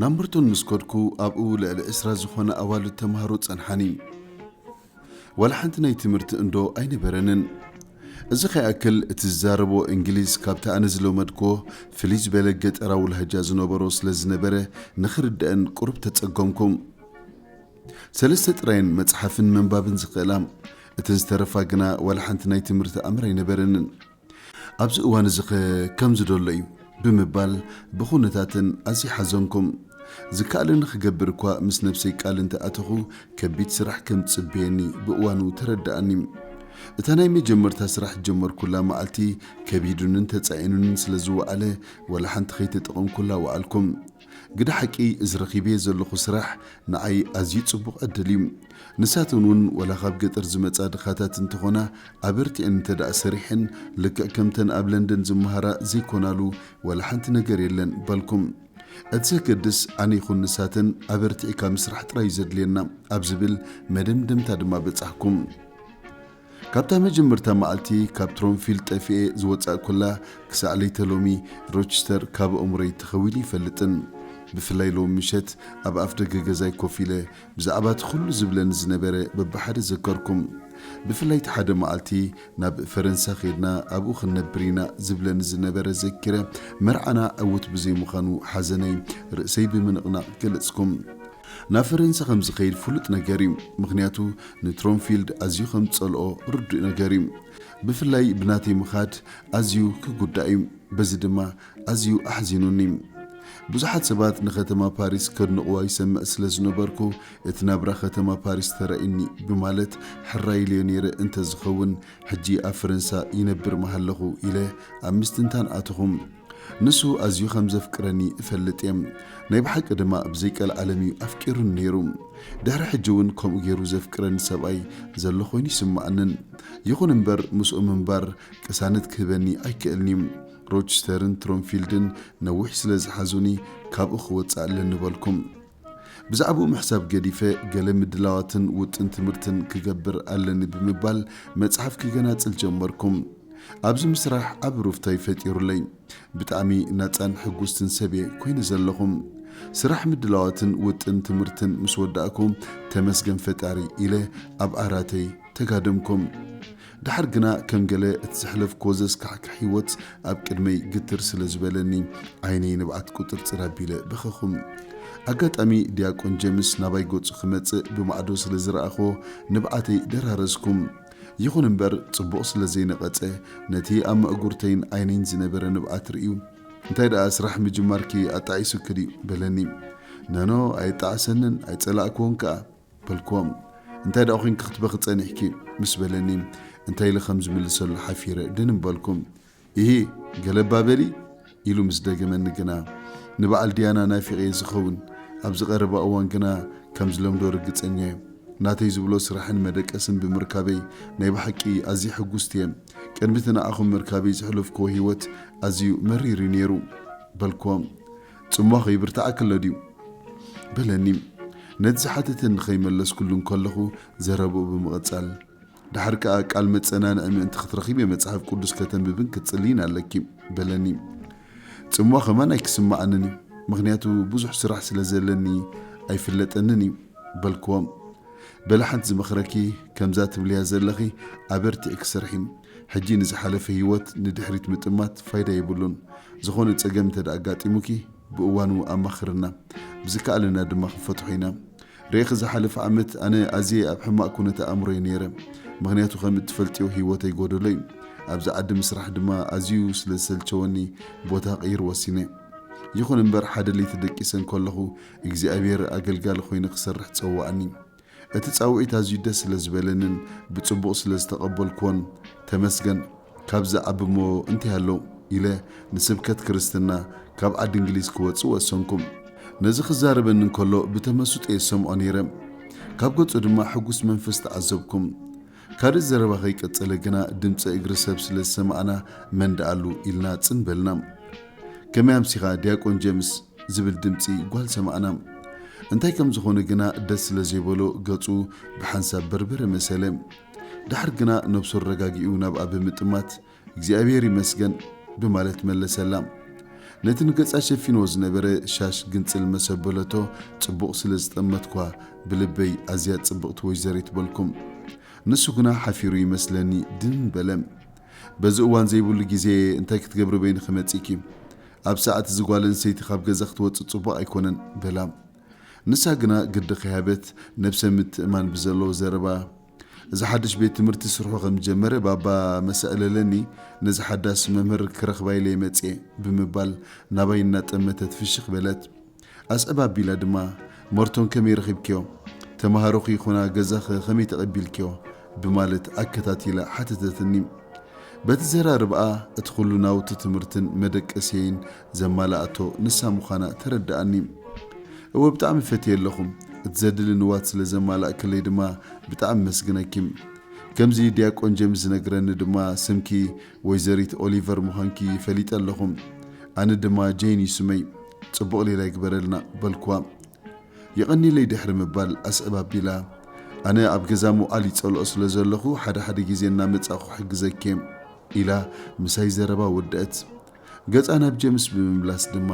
ናብ ምርቶን ምስ ከድኩ ኣብኡ ልዕሊ ዕስራ ዝኾና ኣዋልድ ተማሃሮ ጸንሓኒ። ዋላ ሓንቲ ናይ ትምህርቲ እንዶ ኣይነበረንን። እዚ ከይኣክል እቲ ዝዛረብዎ እንግሊዝ ካብቲ ኣነ ዝለመድክዎ ፍልይ ዝበለ ገጠራዊ ላህጃ ዝነበሮ ስለ ዝነበረ ንኽርደኣን ቁሩብ ተጸገምኩ። ሰለስተ ጥራየን መጽሓፍን ምንባብን ዝኽእላ። እተን ዝተረፋ ግና ዋላ ሓንቲ ናይ ትምህርቲ ኣምር ኣይነበረንን። ኣብዚ እዋን እዚኸ ከምዚ ዶሎ እዩ? ብምባል ብኹነታተን ኣዝየ ሓዘንኩም። ዝከኣለኒ ክገብር እኳ ምስ ነብሰይ ቃል እንተ ኣተኹ፣ ከቢድ ስራሕ ከም ዝጽበየኒ ብእዋኑ ተረደኣኒ። እታ ናይ መጀመርታ ስራሕ ዝጀመርኩላ መዓልቲ ከቢዱንን ተጻዒኑንን ስለ ዝወዓለ ዋላ ሓንቲ ከይተጠቐምኩላ ወዓልኩ። ግደ ሓቂ እዚ ረኺበዮ ዘለኹ ስራሕ ንዓይ ኣዝዩ ጽቡቕ ዕድል እዩ። ንሳተን እውን ወላ ካብ ገጠር ዝመጻ ድኻታት እንተኾና ኣበርቲዐን እንተድኣ ሰሪሐን ልክዕ ከምተን ኣብ ለንደን ዝመሃራ ዘይኮናሉ ወላ ሓንቲ ነገር የለን በልኩም። እቲ ዘገድስ ኣነ ይኹን ንሳተን ኣበርቲዕካ ምስራሕ ጥራይ እዩ ዘድልየና ኣብ ዝብል መደምደምታ ድማ በጻሕኩ። ካብታ መጀመርታ መዓልቲ ካብ ትሮንፊልድ ጠፊኤ ዝወጻእኩላ ክሳዕ ለይተ ሎሚ ሮችስተር ካብ ኣእምሮይ ተኸዊሉ ኣይፈልጥን። ብፍላይ ሎሚ ምሸት ኣብ ኣፍደገ ገዛይ ኮፍ ኢለ ብዛዕባ እቲ ኩሉ ዝብለኒ ዝነበረ በብሓደ ዘከርኩም። ብፍላይ እቲ ሓደ መዓልቲ ናብ ፈረንሳ ኬድና ኣብኡ ክንነብር ኢና ዝብለኒ ዝነበረ ዘኪረ መርዓና ዕዉት ብዘይምዃኑ ሓዘነይ ርእሰይ ብምንቕናቕ ገለጽኩም። ናብ ፈረንሳ ከም ዝኸይድ ፍሉጥ ነገር እዩ፣ ምኽንያቱ ንትሮምፊልድ ኣዝዩ ከም ዝጸልኦ ርዱእ ነገር እዩ። ብፍላይ ብናተይ ምኻድ ኣዝዩ ክጉዳእ እዩ፣ በዚ ድማ ኣዝዩ ኣሕዚኑኒ። ብዙሓት ሰባት ንከተማ ፓሪስ ከድንቕዋ ይሰምዕ ስለ ዝነበርኩ፣ እቲ ናብራ ከተማ ፓሪስ ተራእዩኒ ብማለት ሕራይ ኢለዮ ነይረ፣ እንተ ዝኸውን ሕጂ ኣብ ፈረንሳ ይነብር ምሃለኹ ኢለ ኣብ ምስትንታን ኣተኹ። ንሱ ኣዝዩ ኸም ዜፍቅረኒ እፈልጥ እየ፣ ናይ ብሓቂ ድማ ብ ዘይቀልዓለም እዩ ኣፍቂሩኒ ነይሩ። ድሕሪ ሕጂ እውን ከምኡ ገይሩ ዜፍቅረኒ ሰብኣይ ዘሎ ዀይኑ ኣይስምዓንን። ይኹን እምበር፣ ምስኡ ምንባር ቅሳነት ኪህበኒ ኣይክእልን እዩ። ሮችስተርን ትሮምፊልድን ነዊሕ ስለ ዝሓዙኒ፣ ካብኡ ኽወጽእ ኣለኒ በልኩ። ብዛዕባኡ ምሕሳብ ገዲፈ ገለ ምድላዋትን ውጥን ትምህርትን ክገብር ኣለኒ ብምባል መጽሓፍ ክገናጽል ጀመርኩ። ኣብዚ ምስራሕ ዓቢ ሩፍታ'ዩ ፈጢሩለይ። ብጣዕሚ ናጻን ሕጉስትን ሰብ'የ ኮይነ ዘለኹ። ስራሕ ምድላዋትን ውጥን ትምህርትን ምስ ወዳእኩ ተመስገን ፈጣሪ ኢለ ኣብ ዓራተይ ተጋደምኩ። ደሓር ግና ከም ገለ እቲ ዘሕለፍክዎ ዘስካሕክሕ ህይወት ኣብ ቅድመይ ግትር ስለ ዝበለኒ፣ ዓይነይ ንብዓት ቁጥርጥር ኣቢለ በኸኹ። ኣጋጣሚ ዲያቆን ጀምስ ናባይ ገጹ ክመጽእ ብማዕዶ ስለ ዝረኣኽዎ ንብዓተይ ደራረዝኩ። ይኹን እምበር ጽቡቕ ስለ ዘይነቐጸ ነቲ ኣብ መእጉርተይን ዓይነይን ዝነበረ ንብዓት ርእዩ እንታይ ደኣ ስራሕ ምጅማርኪ ኣጣዒሱኪ ድዩ? በለኒ። ነኖ ኣየጣዕሰንን ኣይጸላእክዎን ከኣ። በልክዎም እንታይ ደኣ ኮንኪ ክትበኺ ጸኒሕኪ ምስ በለኒ እንታይ ኢለ ከም ዝምልሰሉ ሓፊረ ድንን በልኩ ኢሂ ገለ እባ በሊ ኢሉ ምስ ደገመኒ ግና ንበዓል ድያና ናፊቐየ ዝኸውን ኣብዚ ቀረባ እዋን ግና ከም ዝለምዶ ርግጸኛ እየ ናተይ ዝብሎ ስራሕን መደቀስን ብምርካበይ ናይ ብሓቂ ኣዝየ ሕጉስቲ እየ ቅድሚቲ ንዓኹም ምርካበይ ዘሕለፍክዎ ህይወት ኣዝዩ መሪር እዩ ነይሩ በልክዎም ጽሟ ኸይብርትዓኪ ኣሎ ድዩ? በለኒ። ነቲ ዝሓተተኒ ኸይመለስኩሉ እንከለኹ ዘረባኡ ብምቕጻል፣ ደሓር ከኣ ቃል መጸናንዒ ምእንቲ ኽትረኺቤ መጽሓፍ ቅዱስ ከተንብብን ክትጽልይን ኣለኪ። በለኒ። ጽሟ ኸማን ኣይክስምዓንን እዩ፣ ምኽንያቱ ብዙሕ ስራሕ ስለ ዘለኒ ኣይፍለጠንን እዩ። በልክዎ። በለ ሓንቲ ዝመኽረኪ ከምዛ ትብልያ ዘለኺ ኣበርቲዕኪ ስርሒ፣ ሕጂ ንዝሓለፈ ህይወት ንድሕሪት ምጥማት ፋይዳ የብሉን። ዝኾነ ጸገም እንተ ኣጋጢሙኪ ብእዋኑ ኣማኽርና። ብዝከኣለና ድማ ክንፈትሖ ኢና። ርኤኺ ዝሓለፈ ዓመት ኣነ ኣዝየ ኣብ ሕማቕ ኩነተ ኣእምሮ'የ ነይረ። ምኽንያቱ ከም እትፈልጥዮ ህይወተይ ጎደሎ'ዩ። ኣብዚ ዓዲ ምስራሕ ድማ ኣዝዩ ስለ ዝሰልቸወኒ ቦታ ክቕይር ወሲነ። ይኹን እምበር ሓደ ለይቲ ደቂሰ እንከለኹ እግዚኣብሄር ኣገልጋሊ ኮይነ ክሰርሕ ጸውዓኒ። እቲ ጻውዒት ኣዝዩ ደስ ስለ ዝበለንን ብጽቡቕ ስለ ዝተቐበልኩዎን ተመስገን ካብ ዝዓብ'ሞ እንታይ ኣሎ ኢለ ንስብከት ክርስትና ካብ ዓዲ እንግሊዝ ክወጽእ ወሰንኩም። ነዚ ክዛረበኒ እንከሎ ብተመስጦ'የ ዝሰምዖ ነይረ። ካብ ገጹ ድማ ሕጉስ መንፈስ ተዓዘብኩ። ካልእ ዘረባ ከይቀጸለ ግና ድምጺ እግሪ ሰብ ስለ ዝሰማዕና መን ደኣሉ ኢልና ጽን በልና። ከመይ ኣምሲኻ ዲያቆን ጀምስ? ዝብል ድምጺ ጓል ሰማዕና። እንታይ ከም ዝኾነ ግና ደስ ስለ ዘይበሎ ገጹ ብሓንሳብ በርበረ መሰለ። ደሓር ግና ነብሱ ኣረጋጊኡ ናብኣ ብምጥማት እግዚኣብሔር ይመስገን ብማለት መለሰላ። ነቲ ንገጻ ሸፊንዎ ዝነበረ ሻሽ ግንጽል መሰ ኣበለቶ ጽቡቕ ስለ ዝጠመትኳ ብልበይ ኣዝያ ጽብቕቲ ወይዘሪት በልኩም። ንሱ ግና ሓፊሩ ይመስለኒ ድን በለ። በዚ እዋን ዘይብሉ ግዜ'የ እንታይ ክትገብሪ በይንኺ መጺእኪ? ኣብ ሰዓት እዚ ጓል ኣንስተይቲ ካብ ገዛ ክትወጽእ ጽቡቕ ኣይኮነን በላ። ንሳ ግና ግዲ ከይሃበት ነብሰ ምትእማን ብዘለዎ ዘረባ። እዚ ሓድሽ ቤት ትምህርቲ ስርሑ ከም ዝጀመረ ባባ መሰእለለኒ ነዚ ሓዳስ መምህር ክረኽባ ኢለየ መጽየ ብምባል ናባይ እናጠመተት ፍሽኽ በለት። ኣስዕብ ኣቢላ ድማ መርቶን ከመይ ረኺብክዮ? ተመሃሮኺ ይኹና ገዛኸ ከመይ ተቐቢልክዮ? ብማለት ኣከታቲላ ሓተተትኒ። በቲ ዘራርብኣ እቲ ኩሉ ናውቲ ትምህርትን መደቀስየይን ዘማላኣቶ ንሳ ምዃና ተረዳኣኒ እወ ብጣዕሚ ፈትየ ኣለኹ እቲ ዘድሊ ንዋት ስለ ዘማላእክለይ ድማ ብጣዕሚ መስግነኪ ከምዚ ድያቆን ጀምስ ዝነግረኒ ድማ ስምኪ ወይዘሪት ኦሊቨር ምዃንኪ ፈሊጠ ኣለኹ ኣነ ድማ ጀይን እዩ ስመይ ጽቡቕ ሊራ ይግበረልና በልክዋ የቐኒለይ ድሕሪ ምባል ኣስዕብ ኣቢላ ኣነ ኣብ ገዛ ምውዓል ይጸልኦ ስለ ዘለኹ ሓደ ሓደ ግዜ እናመጻእኩ ክሕግዘኪ ኢላ ምሳይ ዘረባ ወደእት ገጻ ናብ ጀምስ ብምምላስ ድማ፣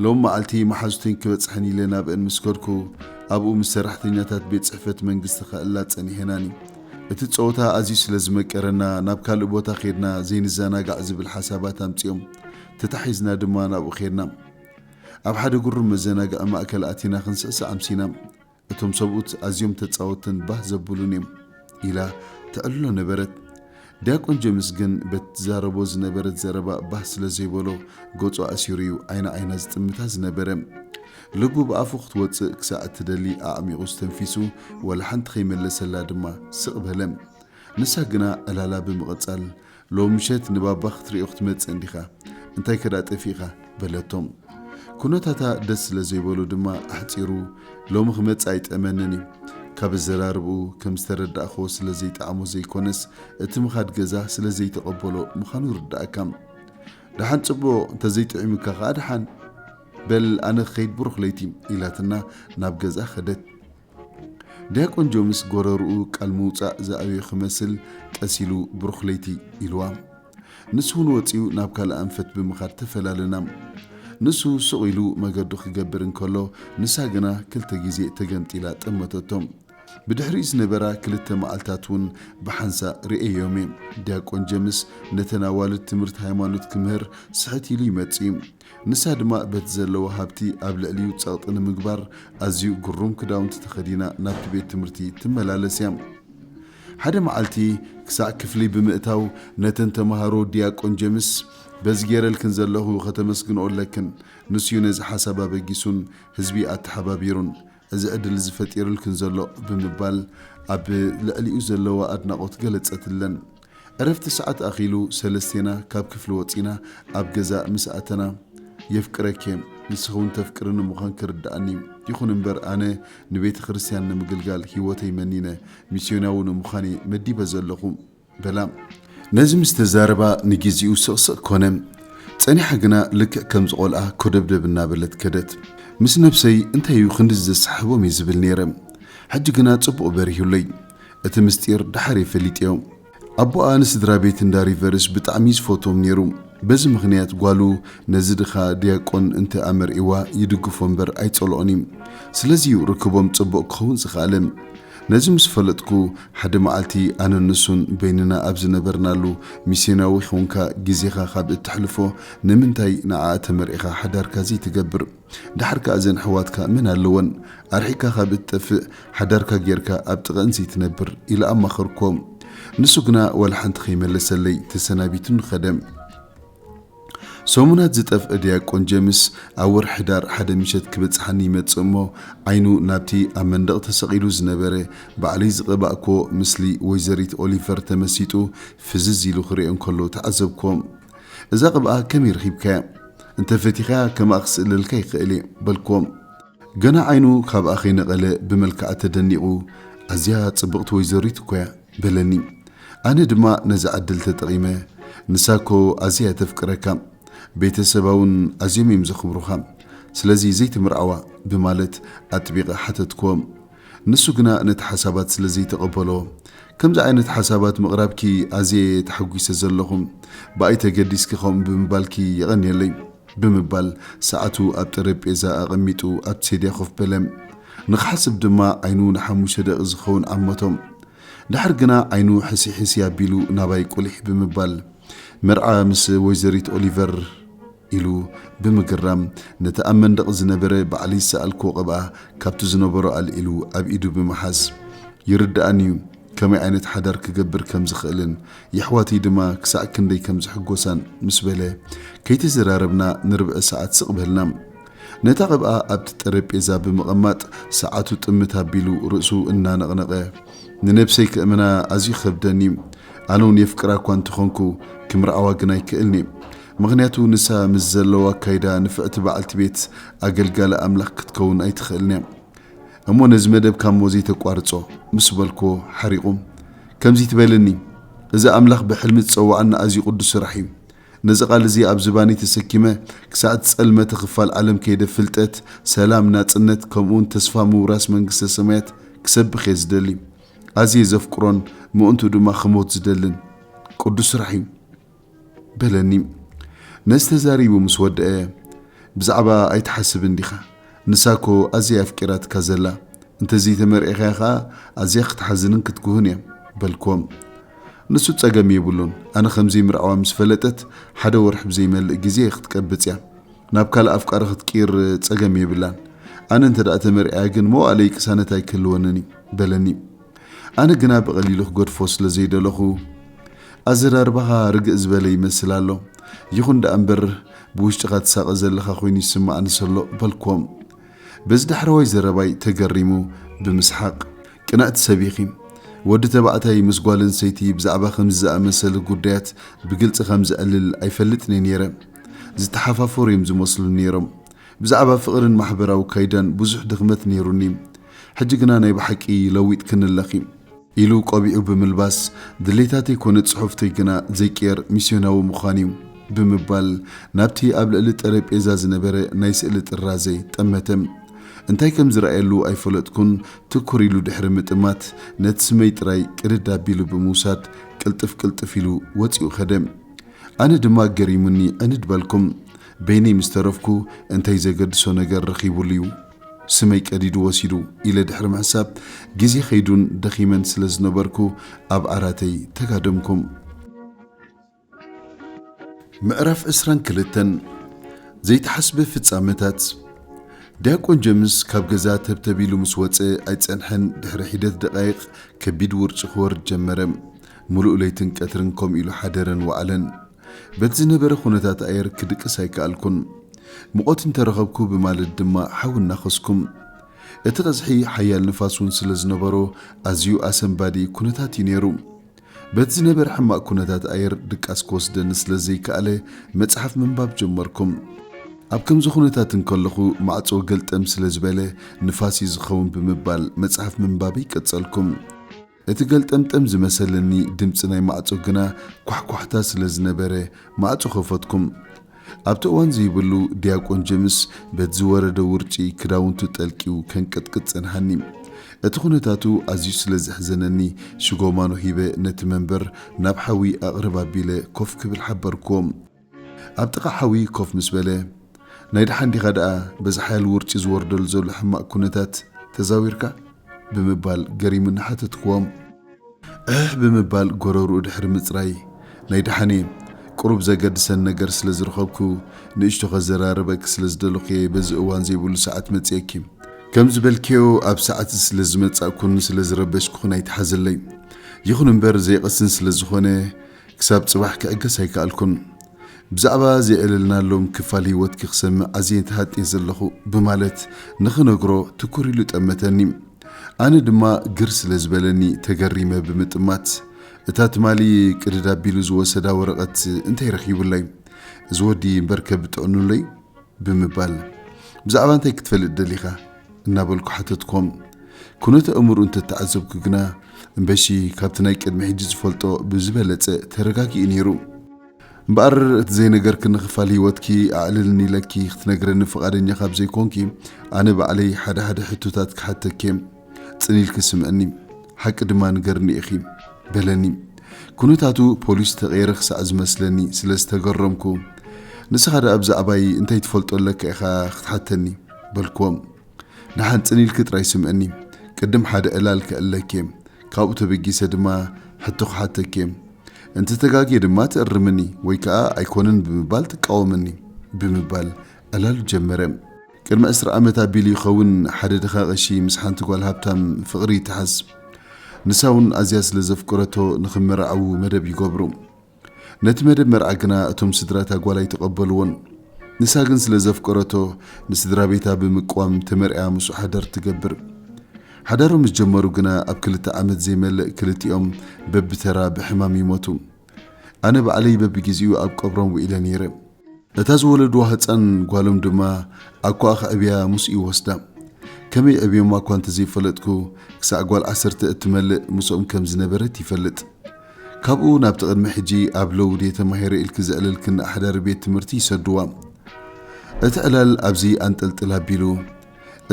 ሎሚ መዓልቲ መሓዙተይን ክበጽሐን ኢለ ናብእን ምስ ከድኩ፣ ኣብኡ ምስ ሰራሕተኛታት ቤት ጽሕፈት መንግስቲ ከእላ ጸኒሔናኒ። እቲ ጸወታ ኣዝዩ ስለ ዝመቀረና፣ ናብ ካልእ ቦታ ኬድና ዘይንዘናጋዕ ዝብል ሓሳባት ኣምጺኦም። ተታሒዝና ድማ ናብኡ ኬድና። ኣብ ሓደ ግሩም መዘናግዒ ማእከል ኣቲና ክንስዕስዕ ኣምሲና። እቶም ሰብኡት ኣዝዮም ተጻወትን ባህ ዘብሉን እዮም ኢላ ተዕልሎ ነበረት። ዲያቆን ጀምስ ግን በቲ ትዛረቦ ዝነበረት ዘረባ ባህ ስለ ዘይበሎ ገጹ ኣእሲሩ እዩ ዓይኒ ዓይና ዝጥምታ ዝነበረ። ልቡ ብኣፉ ክትወጽእ ክሳዕ እትደሊ ኣዕሚቑ ኣስተንፊሱ ዋላ ሓንቲ ከይመለሰላ ድማ ስቕ በለ። ንሳ ግና ዕላላ ብምቕጻል ሎሚ ምሸት ንባባ ክትርእዮ ክትመጽእ እንዲኻ፣ እንታይከ ደኣ ጠፊእካ? በለቶም። ኩነታታ ደስ ስለ ዘይበሎ ድማ ኣሕጺሩ፣ ሎሚ ክመጽእ ኣይጥዕመንን እዩ። ካብ ኣዘራርባኡ ከም ዝተረዳእክዎ ስለ ዘይጠዓሞ ዘይኮነስ፣ እቲ ምኻድ ገዛ ስለ ዘይተቐበሎ ምዃኑ ይርደኣካ። ደሓን ጽቡቕ፣ እንተ ዘይጥዒሙካ ከኣ ደሓን። በል ኣነ ክኸይድ ብሩኽ ለይቲ፣ ኢላትና ናብ ገዝኣ ከደት። ዲያቆን ጆምስ ጎረርኡ ቃል ምውፃእ ዝኣብዮ ክመስል ቀስ ኢሉ ብሩኽ ለይቲ ኢልዋ። ንሱ እውን ወፂኡ ናብ ካልእ ኣንፈት ብምኻድ ተፈላለና። ንሱ ሱቕ ኢሉ መገዱ ክገብር እንከሎ ንሳ ግና ክልተ ግዜ ተገምጢላ ጠመተቶ። ብድሕሪኡ ዝነበራ ክልተ መዓልታት እውን ብሓንሳእ ርእየዮም እየ። ዲያቆን ጀምስ ነተን ኣዋልድ ትምህርቲ ሃይማኖት ክምህር ስሕት ኢሉ ይመፅእ እዩ። ንሳ ድማ በቲ ዘለዋ ሃብቲ ኣብ ልዕሊኡ ጸቕጢ ንምግባር ኣዝዩ ግሩም ክዳውንቲ ተኸዲና ናብቲ ቤት ትምህርቲ ትመላለስ እያ። ሓደ መዓልቲ ክሳዕ ክፍሊ ብምእታው ነተን ተመሃሮ ዲያቆን ጀምስ በዚ ገይረልክን ዘለኹ ከተመስግንኦ ኣለክን፣ ንሱ'ዩ ነዚ ሓሳብ ኣበጊሱን ህዝቢ ኣተሓባቢሩን፣ እዚ ዕድል እዚ ፈጢርልክን ዘሎ ብምባል ኣብ ልዕሊኡ ዘለዋ ኣድናቖት ገለጸትለን። ዕረፍቲ ሰዓት ኣኺሉ ሰለስቴና ካብ ክፍሊ ወጺና ኣብ ገዛ ምስ ኣተና የፍቅረኪ'የ ንስኺ'ውን ተፍቅርኒ ምዃን ክርድኣኒ ይኹን እምበር ኣነ ንቤተ ክርስትያን ንምግልጋል ህይወተይ መኒነ ሚስዮናዊ ንምዃን'የ መዲበ ዘለኹ በላ ነዚ ምስ ተዛረባ ንጊዜኡ ስቕስቕ ኮነ። ጸኒሓ ግና ልክዕ ከምዚ ቆልኣ ኮደብደብ እናበለት ከደት። ምስ ነብሰይ እንታይ'ዩ ክንድዚ ዘሰሓሕቦም እየ ዝብል ነይረ። ሕጂ ግና ጽቡቕ በሪሁለይ። እቲ ምስጢር ደሓር'የ ፈሊጠዮ። ኣቦኣ ንስድራ ቤት እንዳ ሪቨርስ ብጣዕሚ'ዩ ዝፈትዎም ነይሩ። በዚ ምኽንያት ጓሉ ነዚ ድኻ ድያቆን እንተ ኣመርዒዋ ይድግፎ እምበር ኣይጸልኦን'ዩ። ስለዚ'ዩ ርክቦም ጽቡቕ ክኸውን ዝኸኣለ። ነዚ ምስ ፈለጥኩ፣ ሓደ መዓልቲ ኣነን ንሱን በይንና ኣብ ዝነበርናሉ፣ ሚስዮናዊ ዄንካ ግዜኻ ኻብ እተሕልፎ፣ ንምንታይ ንዓኣ ተመርዒኻ ሓዳርካ ዘይትገብር? ደሓር ከኣ እዘን ኣሕዋትካ መን ኣለወን? ኣርሒቕካ ኻብ እትጠፍእ፣ ሓዳርካ ጌርካ ኣብ ጥቓኣን ዘይትነብር? ኢለ ኣማኸርክዎ። ንሱ ግና ዋላ ሓንቲ ኸይመለሰለይ፣ ተሰናቢቱኒ ኸደ። ሰሙናት ዝጠፍእ ዲያቆን ጀምስ ኣብ ወርሒ ሕዳር ሓደ ምሸት ክበጽሓኒ ይመጽእ እሞ ዓይኑ ናብቲ ኣብ መንደቕ ተሰቒሉ ዝነበረ ባዕለይ ዝቐባእክዎ ምስሊ ወይዘሪት ኦሊቨር ተመሲጡ ፍዝዝ ኢሉ ክሪኦ እንከሎ ተዓዘብክዎ። እዛ ቅብኣ ከመይ ረኺብካያ? እንተ ፈቲኻያ ከማኣ ክስእለልካ ይኽእል እየ በልክዎ። ገና ዓይኑ ካብኣ ከይነቐለ ብመልክዓ ተደኒቑ፣ ኣዝያ ጽብቕቲ ወይዘሪት እኮ'ያ፣ በለኒ። ኣነ ድማ ነዛ ዕድል ተጠቒመ፣ ንሳ'ኮ ኣዝያ'ያ ተፍቅረካ፣ ቤተሰባ'ውን ኣዝዮም'ዮም ዘኽብሩኻ፣ ስለዚ ዘይትምርዓዋ? ብማለት ኣጥቢቐ ሓተትክዎም። ንሱ ግና ነቲ ሓሳባት ስለ ዘይተቐበሎ፣ ከምዚ ዓይነት ሓሳባት ምቕራብኪ ኣዝየ እየ ተሓጒሰ ዘለኹ፣ ብኣይ ተገዲስኪ ከምኡ ብምባልኪ የቐንየለይ። ብምባል ሰዓቱ ኣብ ጠረጴዛ ኣቐሚጡ ኣብቲ ሴድያ ኮፍ በለ። ንኽሓስብ ድማ ዓይኑ ንሓሙሽተ ደቒቕ ዝኸውን ዓመቶ። ደሓር ግና ዓይኑ ሕሲሕሲ ኣቢሉ ናባይ ቁሊሕ ብምባል፣ መርዓ ምስ ወይዘሪት ኦሊቨር፣ ኢሉ ብምግራም ነቲ ኣብ መንደቕ ዝነበረ ባዕለይ ዝሰኣልክዎ ቅብኣ ካብቲ ዝነበሮ ኣልዒሉ ኣብ ኢዱ ብምሓዝ፣ ይርድኣኒ'ዩ ከመይ ዓይነት ሓዳር ክገብር ከም ዝኽእልን የሕዋተይ ድማ ክሳዕ ክንደይ ከም ዝሕጎሳን ምስ በለ ከይተዘራረብና ንርብዒ ሰዓት ስቕ በልና። ነታ ቅብኣ ኣብቲ ጠረጴዛ ብምቕማጥ ሰዓቱ ጥምት ኣቢሉ ርእሱ እናነቕነቐ፣ ንነብሰይ ከእምና ኣዝዩ ይኸብደኒ'ዩ፣ ኣነ'ውን የፍቅራ'ኳ እንተኾንኩ ክምርዓዋ ግን ኣይክእልን'የ። ምኽንያቱ ንሳ ምስ ዘለዋ ኣካይዳ ንፍዕቲ በዓልቲ ቤት ኣገልጋሊ ኣምላኽ ክትከውን ኣይትኽእልን እያ። እሞ ነዚ መደብ ካሞ ዘይተቋርጾ ምስ በልኩዎ ሓሪቑ ከምዚ ትበለኒ እዚ ኣምላኽ ብሕልሚ ዝጸወዓና ኣዝዩ ቅዱስ ስራሕ እዩ። ነዚ ቃል እዚ ኣብ ዝባነይ ተሰኪመ ክሳዕ ዝጸልመተ ክፋል ዓለም ከይደ ፍልጠት፣ ሰላም፣ ናጽነት ከምኡውን ተስፋ ምውራስ መንግስተ ሰማያት ክሰብኽ እየ ዝደሊ። ኣዝየ ዘፍቅሮን ምእንትኡ ድማ ክሞት ዝደልን ቅዱስ ስራሕ እዩ። በለኒ ነዚ ተዛሪቡ ምስ ወደኣ ብዛዕባኣ ኣይትሓስብን ዲኻ ንሳ እኮ ኣዝያ እያ ኣፍቂራትካ ዘላ እንተዘይ ተመርዒኻያ ከኣ ኣዝያ ክትሓዝንን ክትጉህን እያ በልክዎ ንሱ ጸገም የብሉን ኣነ ከምዘይ ምርዓዋ ምስ ፈለጠት ሓደ ወርሒ ብዘይመልእ ግዜ ክትቀብጽ እያ ናብ ካልእ ኣፍቃሪ ክትቅይር ጸገም የብላን ኣነ እንተ ተመርዒያ ግን መዋእለይ ቅሳነት ኣይክህልወንን እዩ በለኒ ኣነ ግና ብቐሊሉ ክገድፎ ስለ ዘይደለኹ፣ ኣዘራርባኻ ርግእ ዝበለ ይመስል ኣሎ፣ ይኹን ደኣ እምበር ብውሽጥኻ ትሳቐ ዘለኻ ኮይኑ ይስምዓኒ ሰሎ በልክዎም። በዚ ዳሕረዋይ ዘረባይ ተገሪሙ ብምስሓቕ፣ ቅንዕቲ ሰብ ኢኺ፣ ወዲ ተባዕታይ ምስ ጓል ኣንስተይቲ ብዛዕባ ከምዚ ዝኣመሰለ ጉዳያት ብግልጺ ከም ዝዕልል ኣይፈልጥን'የ ነይረ፣ ዝተሓፋፈሩ'ዮም ዝመስሉ ነይሮም፣ ብዛዕባ ፍቕርን ማሕበራዊ ካይዳን ብዙሕ ድኽመት ነይሩኒ፣ ሕጂ ግና ናይ ብሓቂ ለዊጥክኒ ኣለኺ። ኢሉ ቆቢዑ ብምልባስ፣ ድሌታተይ ኮነ ጽሑፍተይ ግና ዘይቅየር ሚስዮናዊ ምዃን'ዩ። ብምባል ናብቲ ኣብ ልዕሊ ጠረጴዛ ዝነበረ ናይ ስእሊ ጥራዘ ጠመተ። እንታይ ከም ዝረኣየሉ ኣይፈለጥኩን፣ ትኩር ኢሉ ድሕሪ ምጥማት፣ ነቲ ስመይ ጥራይ ቅድድ ኣቢሉ ብምውሳድ ቅልጥፍ ቅልጥፍ ኢሉ ወጺኡ ከደ። ኣነ ድማ ገሪሙኒ ዕንድ በልኩ። በይነይ ምስ ተረፍኩ፣ እንታይ ዘገድሶ ነገር ረኺቡሉ'ዩ? ስመይ ቀዲዱ ወሲዱ ኢለ ድሕሪ ምሕሳብ፣ ግዜ ከይዱን ደኺመን ስለ ዝነበርኩ ኣብ ዓራተይ ተጋደምኩ። ምዕራፍ ዕስራን ክልተን፣ ዘይተሓስበ ፍጻመታት፣ ዲያቆን ጀምስ ካብ ገዛ ተብተብ ኢሉ ምስ ወጸ ኣይጸንሐን፣ ድሕሪ ሒደት ደቓይቕ ከቢድ ውርጪ ክወርድ ጀመረ። ምሉእ ለይትን ቀትርን ከምኡ ኢሉ ሓደረን ወዓለን። በቲ ዝነበረ ኩነታት ኣየር ክድቅስ ኣይከኣልኩን። ሙቐት እንተ ረኸብኩ ብማልድ ድማ ሓዊ እናኸስኩ። እቲ ቐዝሒ ሓያል ንፋስ እውን ስለ ዝነበሮ ኣዝዩ ኣሰንባዲ ኩነታት እዩ ነይሩ። በቲ ዝነበረ ሕማቕ ኩነታት ኣየር ድቃስ ክወስደኒ ስለ ዘይከኣለ መጽሓፍ ምንባብ ጀመርኩ። ኣብ ከምዚ ኩነታት እንከለኹ ማዕጾ ገልጠም ስለ ዝበለ ንፋስ እዩ ዝኸውን ብምባል መጽሓፍ ምንባበይ ቀጸልኩ። እቲ ገልጠምጠም ዝመሰለኒ ድምጺ ናይ ማዕጾ ግና ኳሕኳሕታ ስለ ዝነበረ ማዕጾ ከፈትኩም። ኣብቲ እዋን ዘይብሉ ዲያቆን ጀምስ በቲ ዝወረደ ውርጪ ክዳውንቱ ጠልቅዩ ከንቀጥቅጥ ጸንሓኒ። እቲ ኩነታቱ ኣዝዩ ስለ ዘሕዘነኒ ሽጎማኖ ሂበ ነቲ መንበር ናብ ሓዊ ኣቕርብ ኣቢለ ኮፍ ክብል ሓበርኩዎ። ኣብ ጥቓ ሓዊ ኮፍ ምስ በለ፣ ናይ ደሓን ዲኻ ደኣ በዚ ሓያል ውርጪ ዝወርደሉ ዘሎ ሕማቕ ኵነታት ተዛዊርካ? ብምባል ገሪሙኒ ሓተትክዎም። ዕሕሕ ብምባል ጎረርኡ ድሕሪ ምጽራይ፣ ናይ ደሓን'የ፣ ቁሩብ ዘገድሰኒ ነገር ስለ ዝረኸብኩ፣ ንእሽቶ ከዘራርበኪ ስለ ዝደለኹ'የ በዚ እዋን ዘይብሉ ሰዓት መጺኤኪ። ከም ዝበልክዮ ኣብ ሰዓት'ዚ ስለ ዝመጻእኩን ስለ ዝረበሽኩኽን ኣይትሓዝለይ። ይኹን'ምበር ዘይቐስን ስለ ዝኾነ፣ ክሳብ ጽባሕ ክዕገስ ኣይከኣልኩን። ብዛዕባ ዜዕለልናሎም ክፋል ህይወትኪ ክሰምዕ ኣዝየ ተሃጥየ ዘለኹ ብማለት ንኽነግሮ ትኩር ኢሉ ጠመተኒ። ኣነ ድማ ግር ስለ ዝበለኒ ተገሪመ ብምጥማት፣ እታ ትማሊ ቅድድ ኣቢሉ ዝወሰዳ ወረቐት እንታይ ረኺቡለይ? እዚ ወዲ እምበርከ ብጥዕኑለይ? ብምባል፣ ብዛዕባ እንታይ ክትፈልጥ ደሊኻ? እናበልኩ ሓተትኮም። ኩነት ኣእምርኡ እንተተዓዘብኩ ግና እምበሺ ካብቲ ናይ ቅድሚ ሕጂ ዝፈልጦ ብዝበለጸ ተረጋጊኡ ነይሩ። እምበኣር እቲ ዘይነገርክኒ ክፋል ህይወትኪ ኣዕልልኒ ኢለኪ ክትነግረኒ ፍቓደኛ ካብ ዘይኮንኪ ኣነ ባዕለይ ሓደ ሓደ ሕቶታት ክሓተኪ'የ። ጽን ኢልኪ ስምዕኒ። ሓቂ ድማ ንገርኒ ኢኺ። በለኒ። ኩነታቱ ፖሊስ ዝተቐየረ ክሳዕ ዝመስለኒ ስለ ዝተገረምኩ ንስኻ ደኣ ብዛዕባይ እንታይ ትፈልጦ ኣለካ ኢኻ ክትሓተኒ? በልክዎም ንሓንጽን ኢልኪ ጥራይ ስምዕኒ ቅድም ሓደ ዕላል ከእለኬ ካብኡ ተበጊሰ ድማ ሕቶ ክሓተኬ እንተ ተጋግየ ድማ ትእርምኒ ወይ ከኣ ኣይኮነን ብምባል ትቃወምኒ ብምባል ዕላሉ ጀመረ ቅድሚ ዕስራ ዓመት ኣቢሉ ይኸውን ሓደ ድኻ ቀሺ ምስ ሓንቲ ጓል ሃብታም ፍቕሪ ይተሓዝ ንሳውን ኣዝያ ስለ ዘፍቅረቶ ንኽመራዓዉ መደብ ይገብሩ ነቲ መደብ መርዓ ግና እቶም ስድራ እታ ጓል ኣይተቐበልዎን። ንሳ ግን ስለ ዘፍቀረቶ ንስድራ ቤታ ብምቅዋም ተመርዕያ ምስኡ ሓዳር ትገብር። ሓዳሮም ምስ ጀመሩ ግና ኣብ ክልተ ዓመት ዘይመልእ ክልቲኦም በብተራ ብሕማም ይሞቱ። ኣነ ባዕለይ በብጊዚኡ ኣብ ቀብሮም ውዒለ ነይረ። እታ ዝወለድዋ ህጻን ጓሎም ድማ ኣኳኣ ከዕብያ ምስኡ ይወስዳ። ከመይ የዕብዮማ እኳ እንተዘይፈለጥኩ ክሳዕ ጓል ዓሰርተ እትመልእ ምስኦም ከም ዝነበረት ይፈልጥ። ካብኡ ናብቲ ቅድሚ ሕጂ ኣብ ለውድ እየ ተማሂረ ኢልኪ ዘዕለልኪ ንኣሕዳሪ ቤት ትምህርቲ ይሰድዋ። እቲ ዕላል ኣብዚ ኣንጠልጥል ኣቢሉ፣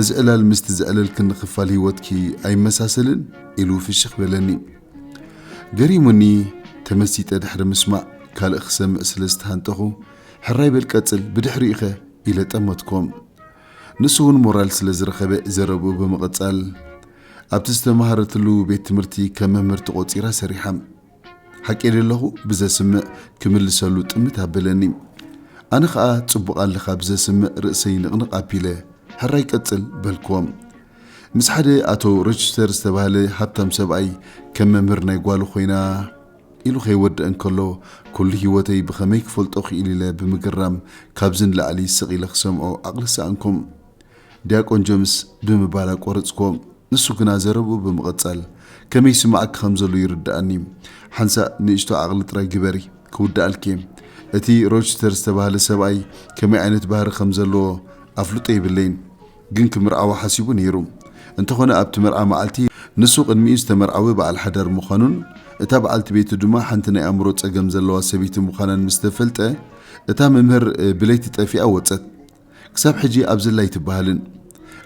እዚ ዕላል ምስቲ ዘዕለልክኒ ክፋል ህይወትኪ ኣይመሳሰልን? ኢሉ ፍሽኽ በለኒ። ገሪሙኒ ተመሲጠ ድሕሪ ምስማዕ ካልእ ክሰምዕ ስለ ዝተሃንጠኹ፣ ሕራይ በል ቀጽል ብድሕሪኡ'ኸ? ኢለ ጠመትኮ። ንሱ'ውን ሞራል ስለ ዝረኸበ ዘረብኡ ብምቕጻል፣ ኣብቲ ዝተማሃረትሉ ቤት ትምህርቲ ከም መምህር ተቖጺራ ሰሪሓ። ሓቂ ደለኹ ብዘስምዕ ክምልሰሉ ጥምት ኣበለኒ። ኣነ ኸኣ ጽቡቕ ኣለኻ ብዘስምዕ ርእሰይ ንቕንቕ ኣቢለ፣ ሕራይ ቀጽል በልክዎም። ምስ ሓደ ኣቶ ሮችስተር ዝተባህለ ሃብታም ሰብኣይ ከም መምህር ናይ ጓሉ ኮይና ኢሉ ከይወድእ እንከሎ ኩሉ ህይወተይ ብኸመይ ክፈልጦ ክኢል ኢለ ብምግራም ካብዚ ንላዕሊ ስቕ ኢለ ክሰምዖ ዓቕሊ ሰኣንኩም። ዲያቆን ጀምስ ብምባል ኣቋረጽክዎ። ንሱ ግና ዘረብኡ ብምቕጻል፣ ከመይ ይስምዓኪ ከም ዘሎ ይርድኣኒ። ሓንሳእ ንእሽቶ ዓቕሊ ጥራይ ግበሪ፣ ክውድኣልኪ'የ። እቲ ሮችስተር ዝተባህለ ሰብኣይ ከመይ ዓይነት ባህሪ ከም ዘለዎ ኣፍልጦ የብለይን፣ ግን ክምርዓዋ ሓሲቡ ነይሩ። እንተዀነ ኣብቲ መርዓ መዓልቲ፣ ንሱ ቅድሚኡ ዝተመርዓወ በዓል ሓዳር ምዃኑን እታ በዓልቲ ቤቱ ድማ ሓንቲ ናይ ኣእምሮ ጸገም ዘለዋ ሰበይቲ ምዃናን ምስ ተፈልጠ፣ እታ መምህር ብለይቲ ጠፊኣ ወጸት። ክሳብ ሕጂ ኣብዘላ ኣይትበሃልን።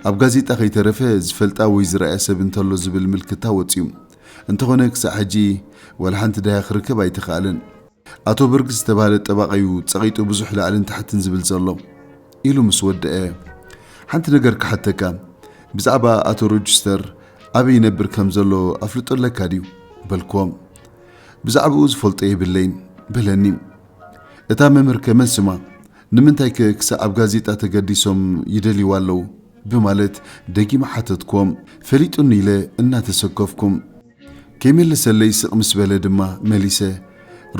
ኣብ ጋዜጣ ከይተረፈ ዝፈልጣ ወይ ዝረኣያ ሰብ እንተሎ ዝብል ምልክታ ወጺኡ። እንተኾነ ክሳዕ ሕጂ ዋላ ሓንቲ ዳህያ ክርከብ ኣይተኻእለን። ኣቶ በርግስ ዝተባህለ ጠባቓ'ዩ ጸቒጡ ብዙሕ ላዕልን ታሕትን ዝብል ዘሎ። ኢሉ ምስ ወደኣ። ሓንቲ ነገር ክሓተካ፣ ብዛዕባ ኣቶ ሮጅስተር ኣበይ ይነብር ከም ዘሎ ኣፍልጦ ኣለካ ድዩ? በልክዎ። ብዛዕባኡ ዝፈልጦ የብለይን። በለኒ። እታ መምህር ከ መን ስማ? ንምንታይከ ክሳዕ ኣብ ጋዜጣ ተገዲሶም ይደልይዋ ኣለዉ? ብማለት ደጊመ ሓተትክዎ። ፈሊጡኒ ኢለ እናተሰከፍኩ። ከይመለሰለይ ስቕ ምስ በለ ድማ መሊሰ፣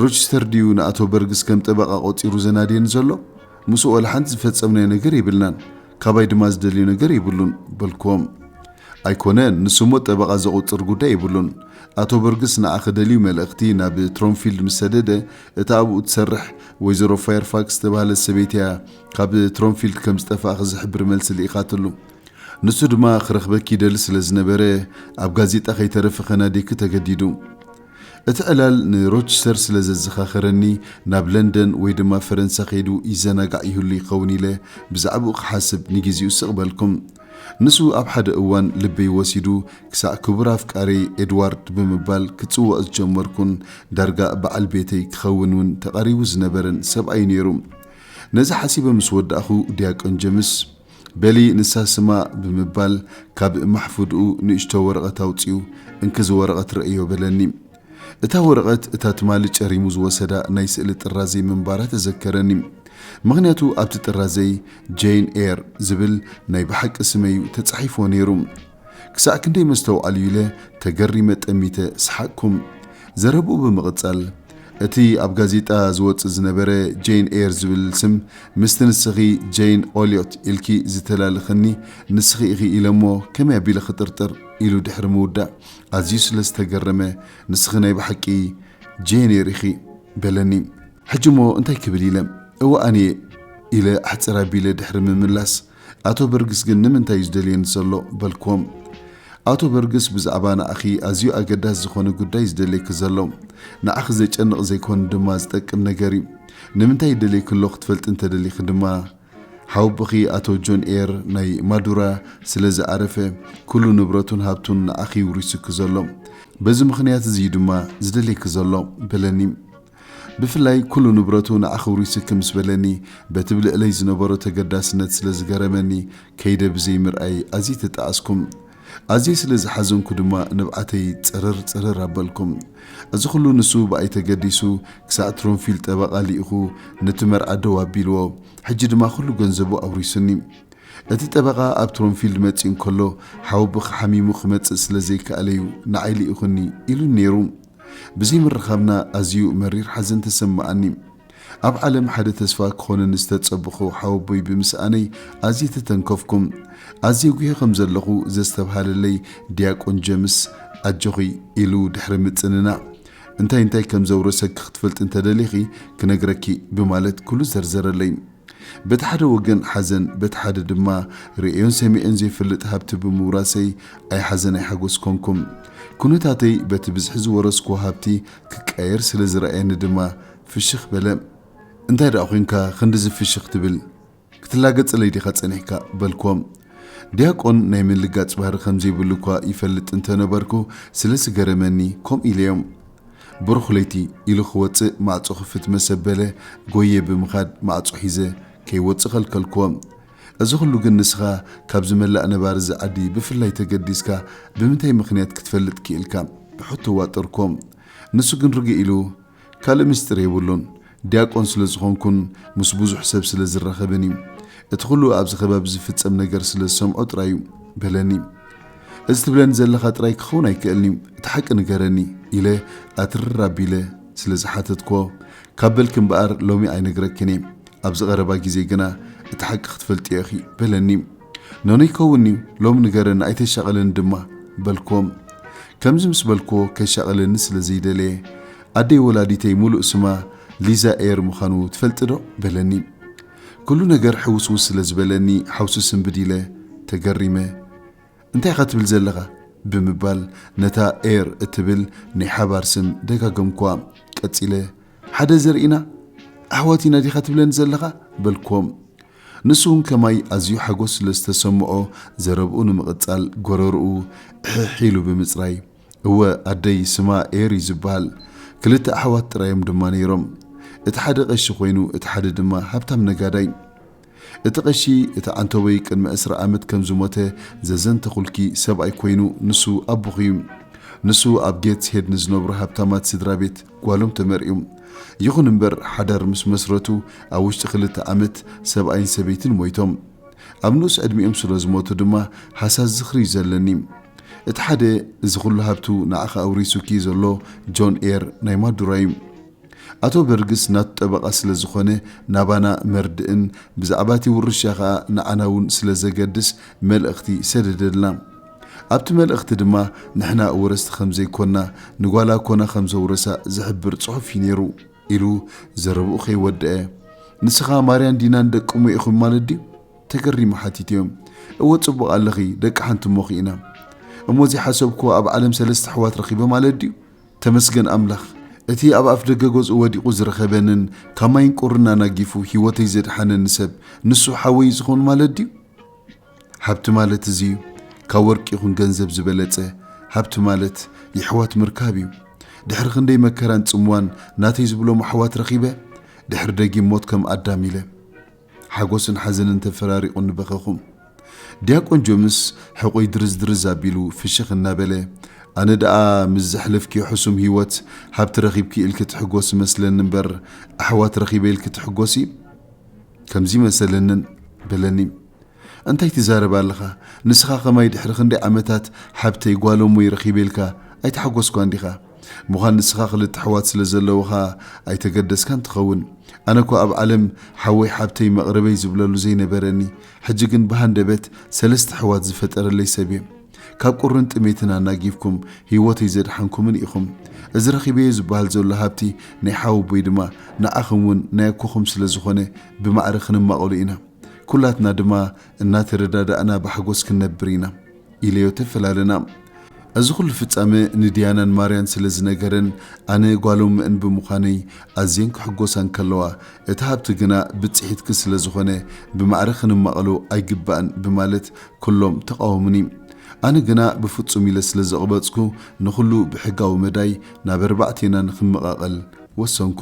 ሮችስተር ድዩ ንኣቶ በርግስ ከም ጠበቓ ቈጺሩ ዘናድየኒ ዘሎ? ምስኡ ዋላ ሓንቲ ዝፈጸምናዮ ነገር የብልናን፣ ካባይ ድማ ዝደልዮ ነገር የብሉን፣ በልክዎ። ኣይኰነን፣ ንሱ'ሞ ጠበቓ ዘቝጽር ጕዳይ የብሉን። ኣቶ በርግስ ንዓኺ ደልዩ መልእኽቲ ናብ ትሮምፊልድ ምስ ሰደደ፣ እታ ኣብኡ እትሰርሕ ወይዘሮ ፋየርፋክስ ዝተባህለት ሰበይቲ እያ ካብ ትሮምፊልድ ከም ዝጠፋእኺ ዝሕብር መልሲ ልኢኻትሉ። ንሱ ድማ ክረኽበኪ ይደሊ ስለ ዝነበረ ኣብ ጋዜጣ ከይተረፈ ከናድየኪ ተገዲዱ። እቲ ዕላል ንሮችስተር ስለ ዘዘኻኸረኒ ናብ ለንደን ወይ ድማ ፈረንሳ ከይዱ ይዘናጋዕ ይህሉ ይኸውን ኢለ ብዛዕብኡ ክሓስብ ንጊዚኡ ስቕ በልኩ። ንሱ ኣብ ሓደ እዋን ልበይ ወሲዱ ክሳዕ ክቡር ኣፍቃሪይ ኤድዋርድ ብምባል ክጽውዖ ዝጀመርኩን ዳርጋ በዓል ቤተይ ክኸውን እውን ተቓሪቡ ዝነበረን ሰብኣይ ነይሩ። ነዚ ሓሲበ ምስ ወዳእኩ ዲያቆን ጀምስ፣ በሊ ንሳ ስማ ብምባል ካብ ማሕፉድኡ ንእሽቶ ወረቐት ኣውጺኡ እንኪ እዚ ወረቐት ርእዮ በለኒ። እታ ወረቐት እታ ትማሊ ጨሪሙ ዝወሰዳ ናይ ስእሊ ጥራዘይ ምንባራ ተዘከረኒ። ምኽንያቱ ኣብቲ ጥራዘይ ጀይን ኤር ዝብል ናይ ብሓቂ ስመይ'ዩ ተጻሒፎ ነይሩ። ክሳዕ ክንደይ መስተውዓሊ'ዩ ኢለ ተገሪመ ጠሚተ ሰሓቅኩም። ዘረብኡ ብምቕጻል፣ እቲ ኣብ ጋዜጣ ዝወጽእ ዝነበረ ጀይን ኤር ዝብል ስም ምስቲ ንስኺ ጀይን ኦልዮት ኢልኪ ዝተላልኸኒ ንስኺ ኢኺ ኢለ'ሞ ከመይ ኣቢለ ክጥርጥር? ኢሉ ድሕሪ ምውዳእ፣ ኣዝዩ ስለ ዝተገረመ ንስኺ ናይ ብሓቂ ጄኔር ኢኺ በለኒ። ሕጂ'ሞ እንታይ ክብል ኢለ እወ ኣነ'የ ኢለ ኣሕጽር ኣቢለ ድሕሪ ምምላስ ኣቶ በርግስ ግን ንምንታይ'ዩ ዝደልየኒ ዘሎ በልክዎም። ኣቶ በርግስ ብዛዕባ ንኣኺ ኣዝዩ ኣገዳሲ ዝኾነ ጉዳይ ዝደልየኪ ዘሎ ንዓኺ ዘጨንቕ ዘይኮኑ ድማ ዝጠቅም ነገር'ዩ። ንምንታይ ይደልየኪ ኣሎ ክትፈልጢ እንተደሊኺ ድማ ሓውብኺ ኣቶ ጆን ኤር ናይ ማዱራ ስለ ዝኣረፈ ኩሉ ንብረቱን ሃብቱን ንዓኺ ይውሪሱኪ ዘሎ በዚ ምኽንያት እዚ እዩ ድማ ዝደልየኪ ዘሎ በለኒ ብፍላይ ኩሉ ንብረቱ ንዓኺ ውሪሱኪ ምስ በለኒ በቲ ብልዕለይ ዝነበሮ ተገዳስነት ስለ ዝገረመኒ ከይደ ብዘይ ምርኣይ ኣዝየ ተጣዓስኩ ኣዝየ ስለ ዝሓዘንኩ ድማ ንብዓተይ ጽርር ጽርር ኣበልኩ። እዚ ኹሉ ንሱ ብኣይ ተገዲሱ ክሳዕ ትሮንፊል ጠበቓ ልኢኹ ነቲ መርዓ ደው ኣቢልዎ። ሕጂ ድማ ኹሉ ገንዘቡ ኣውሪሱኒ። እቲ ጠበቓ ኣብ ትሮንፊልድ መጺኡ እንከሎ ሓወቦኺ ሓሚሙ ክመጽእ ስለ ዘይከኣለ'ዩ ንዓይ ልኢኹኒ ኢሉኒ ነይሩ። ብዘይምርኻብና ኣዝዩ መሪር ሓዘን ተሰመዓኒ። ኣብ ዓለም ሓደ ተስፋ ክኾነኒ ዝተጸበኹ ሓወቦይ ብምስኣነይ ኣዝየ ተተንከፍኩም። ኣዝየ ጉሂ ከም ዘለኹ ዘስተብሃለለይ ዲያቆን ጀምስ፣ ኣጆኺ ኢሉ ድሕሪ ምጽንናዕ፣ እንታይ እንታይ ከም ዘውረሰኪ ክትፈልጢ እንተደሊኺ ክነግረኪ ብማለት ኩሉ ዘርዘረለይ። በቲ ሓደ ወገን ሓዘን በቲ ሓደ ድማ ርእዮን ሰሚዐን ዘይፈልጥ ሃብቲ ብምውራሰይ ኣይሓዘን ኣይሓጎስ ኮንኩም። ኩነታተይ በቲ ብዝሒ ዝወረስኩዎ ሃብቲ ክቀየር ስለ ዝረኣየኒ ድማ ፍሽኽ በለ። እንታይ ደኣ ኰንካ ክንድዚ ፍሽኽ ትብል? ክትላገጸለይ ዲኻ ጸኒሕካ? በልኩዎ። ዲያቆን ናይ ምልጋጽ ባህሪ ከም ዘይብሉ እኳ ይፈልጥ እንተ ነበርኩ፣ ስለ ዝገረመኒ ከምኡ ኢለዮ። ብሩኽ ለይቲ! ኢሉ ክወጽእ ማዕጾ ክፍት መስ ኣበለ፣ ጐይየ ብምኻድ ማዕጾ ሒዘ ከይወጽእ ከልከልኩዎ። እዚ ዅሉ ግን ንስኻ ካብዚ መላእ ነባሪ እዚ ዓዲ ብፍላይ ተገዲስካ ብምንታይ ምኽንያት ክትፈልጥ ክኢልካ? ብሕቶ ዋጠርኩዎ። ንሱ ግን ርግእ ኢሉ። ካልእ ምስጢር የብሉን፣ ዲያቆን ስለ ዝኾንኩን ምስ ብዙሕ ሰብ ስለ ዝራኸብን እዩ። እቲ ኹሉ ኣብዚ ከባቢ ዝፍጸም ነገር ስለ ዝሰምዖ ጥራይ እዩ። በለኒ። እዚ ትብለኒ ዘለኻ ጥራይ ክኸውን ኣይክእልን እዩ፣ እቲ ሓቂ ንገረኒ፣ ኢለ ኣትርር ኣቢለ ስለ ዝሓተትክዎ፣ ካብ በልኪ እምበኣር ሎሚ ኣይነግረክን እየ፣ ኣብዚ ቐረባ ግዜ ግና እቲ ሓቂ ክትፈልጥዮ ኢኺ፣ በለኒ። ነኖይ ከውን'ዩ ሎሚ ንገረኒ ኣይተሻቕለኒ ድማ በልክዎም። ከምዚ ምስ በልክዎ ከሻቕለኒ ስለ ዘይደለየ። ኣደይ ወላዲተይ ሙሉእ ስማ ሊዛ ኤር ምዃኑ ትፈልጢ'ዶ? በለኒ። ኩሉ ነገር ሕውስውስ ስለ ዝበለኒ ሓውሲ ስንብድ ኢለ ተገሪመ። እንታይ ኢኻ ትብል ዘለኻ? ብምባል ነታ ኤር እትብል ናይ ሓባር ስም ደጋገምክዋ። ቀጺለ ሓደ ዘርኢና ኣሕዋት ኢና ዲኻ ትብለኒ ዘለኻ? በልክዎም። ንሱ እውን ከማይ ኣዝዩ ሓጎስ ስለ ዝተሰምዖ ዘረብኡ ንምቕጻል ጎረርኡ እሕሕ ኢሉ ብምጽራይ፣ እወ ኣደይ ስማ ኤር እዩ ዝብሃል። ክልተ ኣሕዋት ጥራይ እዮም ድማ ነይሮም። እቲ ሓደ ቀሺ ኮይኑ እቲ ሓደ ድማ ሃብታም ነጋዳይ። እቲ ቀሺ እቲ ዓንተቦይ ቅድሚ ዕስራ ዓመት ከም ዝሞተ ዘዘንተኹልኪ ሰብኣይ ኮይኑ ንሱ ኣቦኺ እዩ። ንሱ ኣብ ጌትስ ሄድ ንዝነብሩ ሃብታማት ስድራቤት። ጓሎም ተመርዕዩ። ይኹን እምበር ሓዳር ምስ መስረቱ ኣብ ውሽጢ ክልተ ዓመት ሰብኣይን ሰበይትን ሞይቶም። ኣብ ንኡስ ዕድሚኦም ስለ ዝሞቱ ድማ ሃሳስ ዝኽሪ'ዩ ዘለኒ። እቲ ሓደ እዚ ኹሉ ሃብቱ ንዓኺ ኣውሪሱኪ ዘሎ ጆን ኤር ናይ ማዱራ'ዩ። ኣቶ በርግስ ናቱ ጠበቓ ስለ ዝኾነ ናባና መርድእን ብዛዕባ'ቲ ውርሻ ከኣ ንዓና'ውን ስለ ዘገድስ መልእኽቲ ሰደደልና። ኣብቲ መልእኽቲ ድማ ንሕና ኣወረስቲ ከም ዘይኮና ንጓላ ኮና ከም ዘውረሳ ዝሕብር ጽሑፍ እዩ ነይሩ ኢሉ ዘረብኡ ከይወደኣ ንስኻ ማርያን ዲናን ደቂ እሞ ኢኹም ማለት ድዩ? ተገሪሙ ሓቲትዮ። እወ ጽቡቕ ኣለኺ ደቂ ሓንቲ እሞ ኺኢና። እሞ ዘይሓሰብክዎ ኣብ ዓለም ሰለስተ ኣሕዋት ረኺበ ማለት ድዩ? ተመስገን ኣምላኽ እቲ ኣብ ኣፍደገ ገዝኡ ወዲቑ ዝረኸበንን ካብ ማይን ቁርን ኣናጊፉ ህይወተይ ዘድሓነኒ ሰብ ንሱ ሓወይ እዩ ዝኸውን ማለት ድዩ? ሃብቲ ማለት እዚ እዩ ካብ ወርቂ ይኹን ገንዘብ ዝበለጸ ሃብቲ ማለት የሕዋት ምርካብ እዩ ድሕሪ ክንደይ መከራን ጽምዋን ናተይ ዝብሎም ኣሕዋት ረኺበ ድሕሪ ደጊም ሞት ከም ኣዳም ኢለ ሓጎስን ሓዘንን ተፈራሪቑኒ በኸኹም ዲያቆን ጆምስ ሕቑይ ድርዝ ድርዝ ኣቢሉ ፍሽኽ እናበለ ኣነ ደኣ ምስ ዘሕለፍኪዮ ሕሱም ህይወት ሃብቲ ረኺብኪ ኢልኪ ትሕጎሲ መስለኒ እምበር ኣሕዋት ረኺበ ኢልኪ ትሕጎሲ ከምዚ መሰለንን በለኒ እንታይ ትዛረብ ኣለኻ ንስኻ ከማይ ድሕሪ ክንደይ ዓመታት ሓብተይ ጓሎሙይ ረኺበ ኢልካ ኣይተሓጎስኳን ዲኻ ሙኻን ንስኻ ክልተ ኣሕዋት ስለ ዘለውኻ ኣይተገደስካን ትኸውን ኣነኳ ኣብ ዓለም ሓወይ ሓብተይ መቕርበይ ዝብለሉ ዘይነበረኒ ሕጂ ግን ብሃንደበት ሰለስተ ኣሕዋት ዝፈጠረለይ ሰብ እየ ካብ ቁርን ጥሜትን ኣናጊፍኩም ህይወተይ ዘድሓንኩምን ኢኹም እዚ ረኺበዮ ዝበሃል ዘሎ ሃብቲ ናይ ሓወቦይ ድማ ንዓኽም እውን ናይ ኣኮኹም ስለ ዝኾነ ብማዕረ ክንማቐሉ ኢና ኩላትና ድማ እናተረዳዳእና ብሓጎስ ክንነብር ኢና ኢለዮ ተፈላለና። እዚ ኩሉ ፍጻመ ንድያናን ማርያን ስለ ዝነገረን ኣነ ጓሎም'ን ብምዃነይ ኣዝየን ክሕጎሳ እንከለዋ እቲ ሃብቲ ግና ብጽሒትኪ ስለ ዝኾነ ብማዕረ ክንማቐሎ ኣይግባእን ብማለት ኩሎም ተቓወሙኒ። ኣነ ግና ብፍጹም ኢለ ስለ ዘቕበጽኩ ንኹሉ ብሕጋዊ መዳይ ናብ ኣርባዕቴና ንኽመቓቐል ወሰንኩ።